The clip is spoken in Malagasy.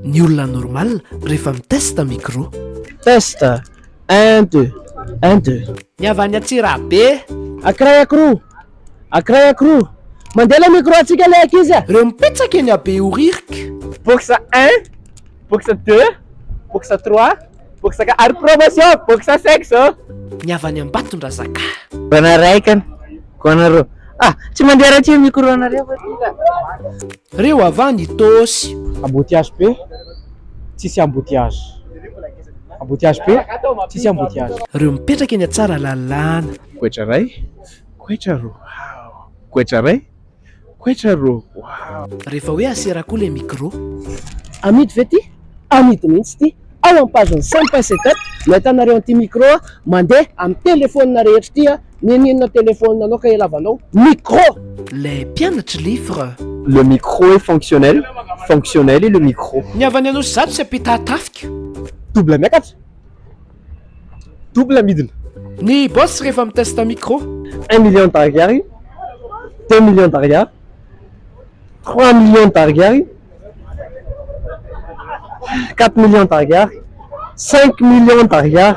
Ny olona normal rehefa mi test micro. Test, un deux, un deux. Ny avy any Antsirabe. Akiray akiroa, akiray akiroa. Mandeha ilay micro antsika ilay ankizy a. Reo mipetsaka eny Behoririka. Box un, box deux, box trois. Boksaka ary promotion boxe sexe ô. Ny avy any Ambatondrazaka. Gona ray ka gona roa ah tsy mandeha raha tsy eo micro nareo fa ty ka. Reo ava ny tôsy. Embouteillage be tsisy embouteillage. Embouteillage be tsisy embouteillage. Reo mipetraka eny Tsaralalàna. Goitra ray, goitra roa, goitra ray, Quechua rô waouh. Rehefa hoe asera koa le micro. Amidy ve ty? Amidy mihitsy ity ao am page ny sampa setup no ahitanareo an'ity micro mandeha am telefonina rehetra ity a, n'inon'inona telefonina anao ka ilavanao micro. Le mpianatry livre. Le micro est fonctionnel, fonctionnel est le micro. Ny avy any Anosizato sy Ampitatafika. Double miakatra. double midina. Ny boss rehefa mi teste micro. Un million d'ariary, deux millions d'ariary, trois millions d'ariary, quatre millions d'ariary, cinq millions d'ariary.